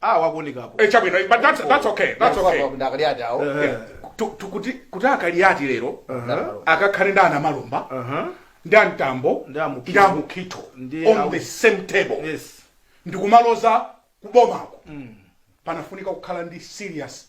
ah wakuonekapo Eh, chabwino but that's, that's okay that's okay ndi aKaliati awo Yeah. Tu- tu- kuti kuti aKaliati lero akakhale ndi aNamalomba Aha. ndi aMtambo Ndi aMukhito. ndi aMukhito Ndi on awu- the same table yes ndikumaloza kubomako panafunika kukhala ndi serious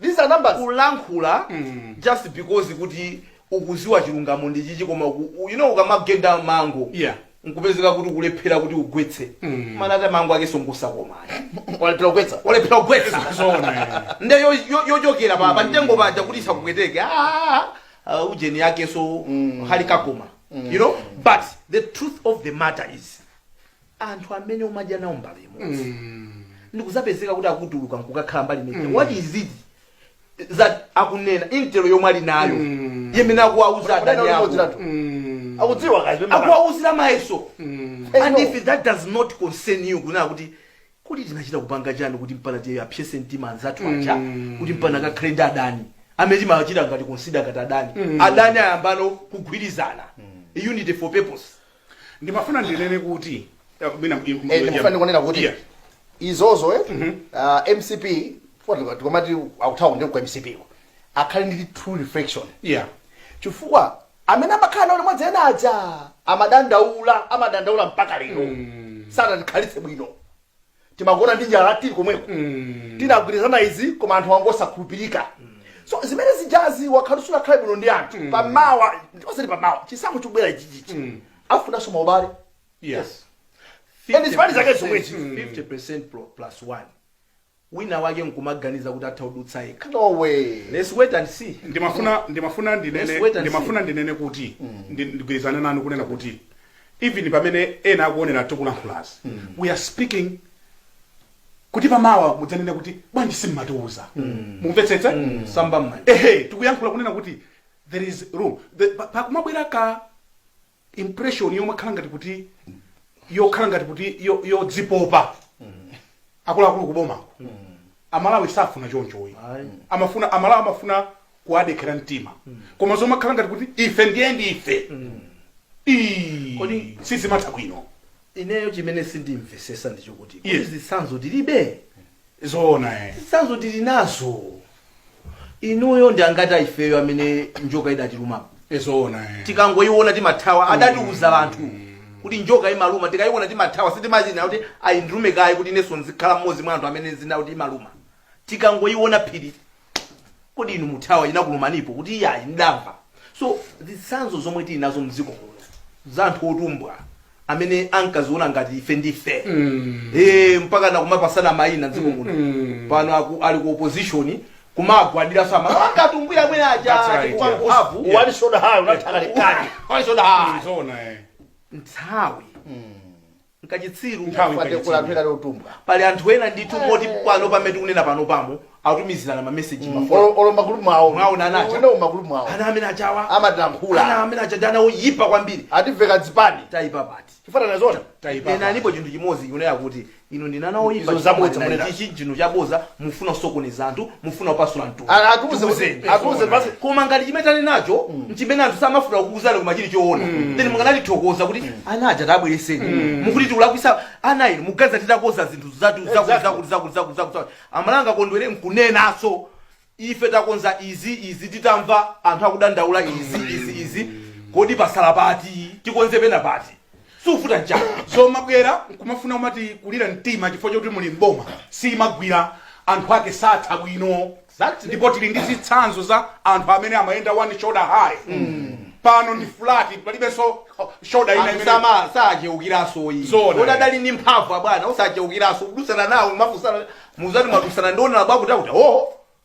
these are numbers kulankhula mm. just because kuti ukuziwa chilungamo ndi chichi koma you know ukamagenda mango yeah nkupezeka kuti kulephera kuti ugwetse mm. mana ata mango ake songosa koma walephera kugwetsa walephera kugwetsa nde yochokera pa pamtengo paja kuti usakupweteke ah, ah, ujeni yake so mm. halikakoma mm. you know but the truth of the matter is anthu amene umadya nawo mbale imodzi ndikuzapezeka kuti akutuluka nkukakhala mbali inayake Mm. what is it that akunena intelo yomwe ali nayo Mm. imene akuwauza adani Unaona ako umodziratu. akudziwa kazi pemba- akuwauzira mayeso Hey, and no. if that does not concern you kunena kuti kuti tinachita kupanga chani kuti mpaka tiwapsetse mtima anzathu aja Mm. kuti mpaka akakhale ndi adani amene timachita ngati consider ngati adani adani ayambano kugwirizana unity for purpose ndimafuna ndinene kuti eh, mwina mu- mu- Eh, ndikufuna ndikunena kuti Yeah. izozo eh, ah, mcp chifukwa tikamati akuthawa ndi kwa mcp yo akhale ndi true reflection Yeah. chifukwa amene amakhala nawo limodzi ena aja amadandaula amadandaula mpaka lero sanatikhalitse bwino timagona ndi njala tili komweko tinagwirizana izi koma anthu ake osakhulupirika so zimene zijazi ukakhala sunakhale bwino ndi anthu pamawa osati pamawa chisankho chikubwera ichichi afunanso maubale Yes. And it's funny zake zomwezi. 50% pro- plus 1 wina wake nkumaganiza kuti atha kudutsa yekha no way let's wait and see ndimafuna ndimafuna Let's ndinene wait and ndimafuna ndinene kuti ndi- ndigwirizane nanu kunena kuti even pamene ena akuonera tikulankhulazi we are speaking kuti pamawa mudzanene kuti bwanji simmatiuza mukumvetsetsa samba mmanja mmene tikuyankhula kunena kuti there is room The- pa- pakumabwera ka impression yomakhala ngati kuti yokhala ngati kuti yo- yodzipopa akuluakulu kubomako amalawi safuna chonchoyi Ayi. amafuna amalawi amafuna kuwadekhera mtima koma zomakhala ngati kuti ife ndiye ndife Ii, Kodi- sizimatha bwino ineyo chimene sindimvesesa ndi chokuti Yes. kuti zitsanzo tilibe zoona eh. zitsanzo tili nazo inuyo ndi angati a ifeyo amene njoka idatilumapo Eh, zoona eh. tikangoyiona timathawa adatiuza anthu kuti njoka imaluma tikayiona timathawa sitimachita kuti ayi ndilume kaye kuti inenso nzikhala mmodzi mwa anthu amene adziwa kuti imaluma tikangoiona phiri kodi inu muthawa inakulumanipo kuti iyayi ndamva so zitsanzo zomwe tili nazo mdziko muno za anthu otumbwa amene ankaziona ngati ife ndife Eh, mpaka nakumapasana mayina mdziko muno pano aku- ali ku opposition kumagwadira omwe amawatumbwira amene That's aja right, chifukwa yeah. mphamvu Yeah. walisoda hayo unathaka lekani Wali soda hayo. Zona, eh. nthawi nkachitsiru nthawi nkachitsiru pali anthu ena ndithu moti pano pamene tikunena pano pamo akutumizirana ma message ma phone olo ma group mwawo mwaona ana ajawa ndi ma group mwawo ana amene ajawa amatilankhula ana amene aja ndi ana oyipa kwambiri ativeka zipani taipa pati chifana nazona taipa pena alipo chinthu chimodzi kunena kuti inu ndinu ana oyipa izo zabodza munena ichi chinthu chabodza mufuna sokoneza anthu mufuna kupasula mtundu A- atiuze kuti- Tiuzeni. atiuze basi koma ngati chimene tali nacho nchimene anthu samafuna kukuuzani koma chili choona then mukanatithokoza kuti ana aja tabwereseni mukuti tikulakwitsa ana inu muganiza titakonza zinthu zatu zakuti Exactly. zakuti zakuti zakuti zakuti zakuti. mwina angakondwere nkunenaso ife takonza izi izi titamva anthu akudandaula izi izi izi kodi patsala pati tikonze pena pati suvuta njala zomabwera nkumafuna kumatikulira mtima chifukwa choti muli mboma sizimagwira anthu ake satha bwino Exactly. ndipo tili ndi zitsanzo za anthu amene amayenda one shoulder high pano ndi flat palibenso oh, shoulder ina imene amusama sacheukiraso iyayi Zona. oti adali ndi mphamvu abwana osacheukiraso kudutsana nawo mafunsana muzati mwadutsana ndionera bwakuti akuti o